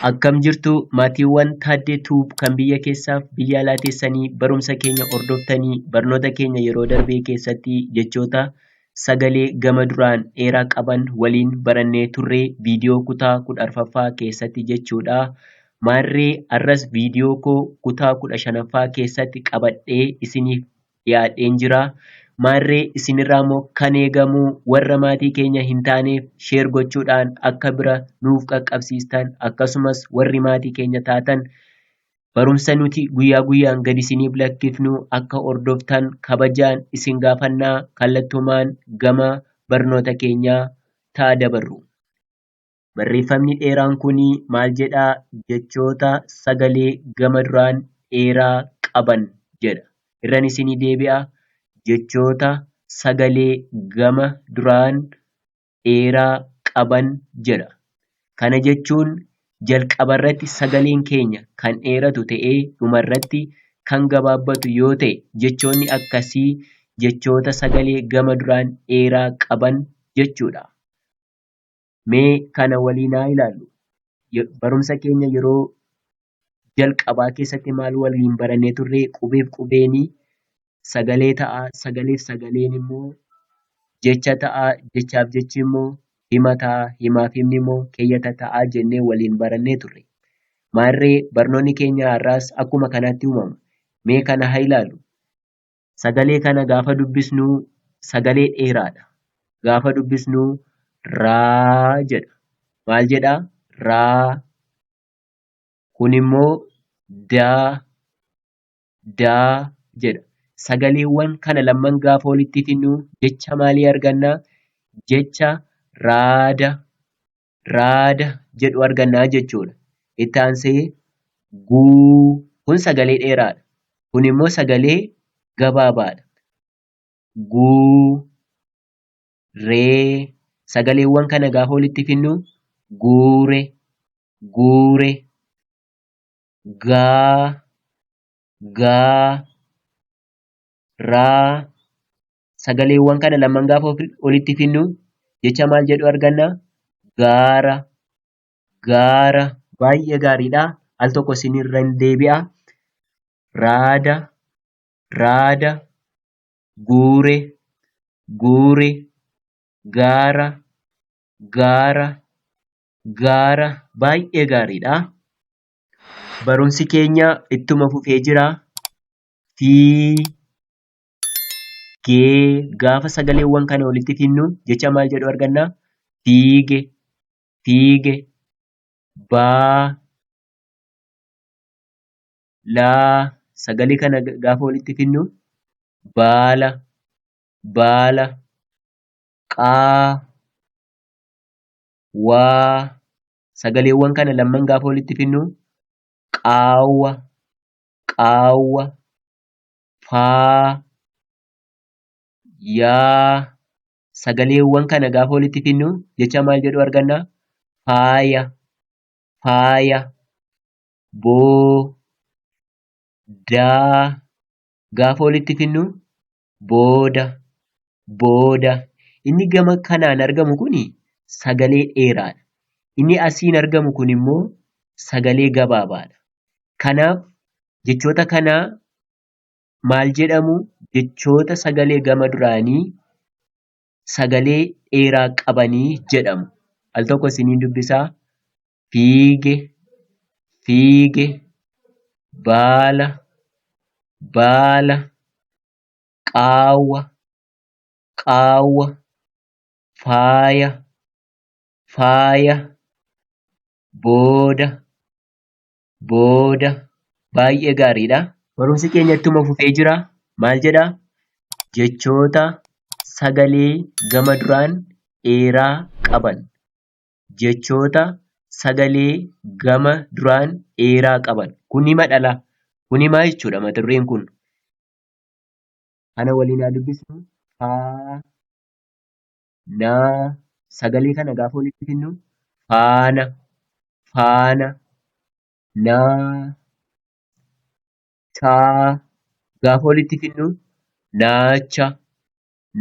Akkam jirtu maatiiwwan Taaddee Tuub kan biyya keessaaf biyya alaa teessanii barumsa keenya hordoftanii barnoota keenya yeroo darbee keessatti jechoota sagalee gama duraan dheeraa qaban waliin barannee turre viidiyoo kutaa kudha arfaffaa keessatti jechuudha. Maarree arras viidiyoo koo kutaa kudha shanaffaa keessatti qabadhee isiniif dhiyaadheen jira. Maarree isinirraa immoo kan eegamu warra maatii keenya hin taaneef sheer gochuudhaan akka bira nuuf qaqqabsiistan akkasumas warri maatii keenya taatan barumsa nuti guyyaa guyyaan gad isiniif lakkifnu akka hordoftan kabajaan isin gaafannaa kallattumaan gama barnoota keenyaa ta'a dabarru. Barreeffamni dheeraan kun maal jedha? Jechoota sagalee gama duraan dheeraa qaban jedha. Irran isinii deebi'a. Jechoota sagalee gama duraan dheeraa qaban jedha. Kana jechuun jalqaba irratti sagaleen keenya kan dheeratu ta'ee dhuma irratti kan gabaabbatu yoo ta'e jechoonni akkasii jechoota sagalee gama duraan dheeraa qaban jechuudha. Mee kana waliin haa ilaallu. Ye- Barumsa keenya yeroo jalqabaa keessatti maal waliin barannee turre? Qubeef qubeeni sagalee ta'a, sagaleef sagaleen immoo jecha ta'a, jechaaf jechi immoo hima ta'a, himaaf himni immoo keeyyata ta'a jennee waliin barannee turre. Maarree barnoonni keenya har'aas akkuma kanaatti uumama. Mee kana haa ilaallu. Sagalee kana gaafa dubbisnu sagalee dheeraadha. Gaafa dubbisnu raa jedha. Maal jedha? Raa. Kun immoo daa, daa jedha. Sagaleewwan kana lamman gaafa walitti fidnu jecha maalii arganna? Jecha raada raada jedhu argannaa jechuudha. Itti aansee guu kun sagalee dheeraadha. Kun immoo sagalee gabaabaadha. Guu ree sagaleewwan kana gaafa walitti finnu guure guure gaa gaa raa sagaleewwan kana lamaan gaafa ofi- olitti finnu jecha maal jedhu arganna? Gaara, gaara. Baay'ee gaariidha. Al tokko isinirra hin deebi'a. Raada, raada. Guure, guure. Gaara, gaara. Gaara. Baay'ee gaariidha. Barumsi keenya ittuma fufee jira. Fi gee gaafa sagaleewwan kana walitti finnu jecha maal jedhu arganna fiige fiige baa laa sagalee kana gaafa walitti finnu baala baala qaa waa sagaleewwan kana lamman gaafa walitti finnu qaawwa qaawwa faa, yaa sagaleewwan kana gaafa walitti finnu jecha maal jedhu arganna? Faaya, faaya, boo, daa gaafa walitti finnu booda, booda. Inni gama kanaan argamu kun sagalee dheeraadha. Inni asiin argamu kun immoo sagalee gabaabaadha. Kanaaf jechoota kana maal jedhamu? Jechoota sagalee gama duraanii sagalee dheeraa qabanii jedhamu. Al tokko isiniin dubbisaa. Fiige, fiige, baala, baala, qaawwa qaawwa faaya faaya booda booda baay'ee gaariidha. Barumsi keenya ittuma fufee jira. Maal jedha? Jechoota sagalee gama duraan dheeraa qaban. Jechoota sagalee gama duraan dheeraa qaban. Kun hima dhala. Kun himaa jechuudha mata dureen kun. Ana waliin haa dubbisnu. Faa. Naa. Sagalee kana gaafa walitti finnu. Faana. Faana. Naa. Chaa. Gaafa walitti finnu. Naacha.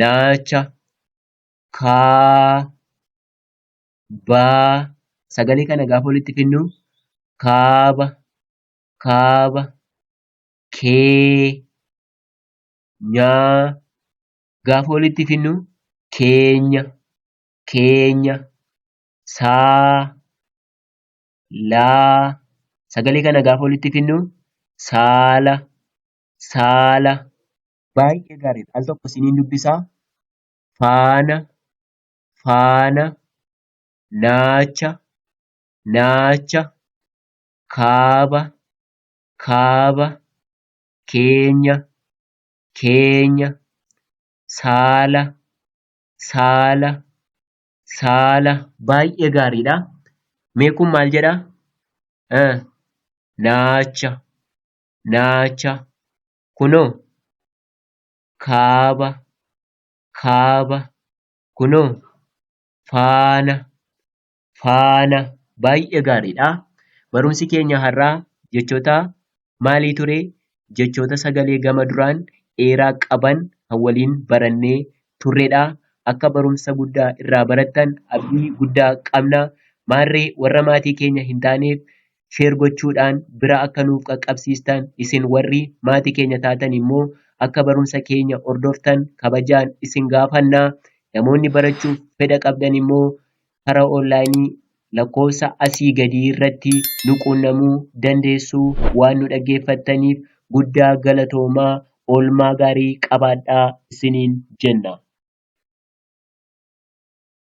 Naacha. Kaa. Baa. Sagalee kana gaafa walitti finnu. Kaaba. Kaaba. kee, nyaa gaafa walitti finnu keenya, keenya, saa, laa sagalee kana gaafa walitti finnu saala, saala. Baay'ee gaariidha. Al tokko isiniin dubbisaa. Faana, faana, naacha, naacha, kaaba, kaaba, keenya, keenya, saala, saala, saala. Baay'ee gaariidha. Mee kun maal jedha? Eh, naacha, naacha. Kunoo kaaba, kaaba. Kunoo faana, faana baay'ee gaariidha. Barumsi keenya har'aa jechoota maalii ture? Jechoota sagalee gama duraan dheeraa qaban kan waliin barannee turredha. Akka barumsa guddaa irraa barattan abdii guddaa qabna. Maarree warra maatii keenya hin taaneef sheer gochuudhaan bira akka nuuf qaqqabsiistan isin warri maatii keenya taatan immoo akka barumsa keenya hordoftan kabajaan isin gaafanna. Namoonni barachuuf fedha qabdan immoo karaa onlaayinii lakkoofsa asii gadii irratti nu quunnamuu dandeessu waan nu dhaggeeffattaniif guddaa galatoomaa oolmaa gaarii qabaadhaa isiniin jenna.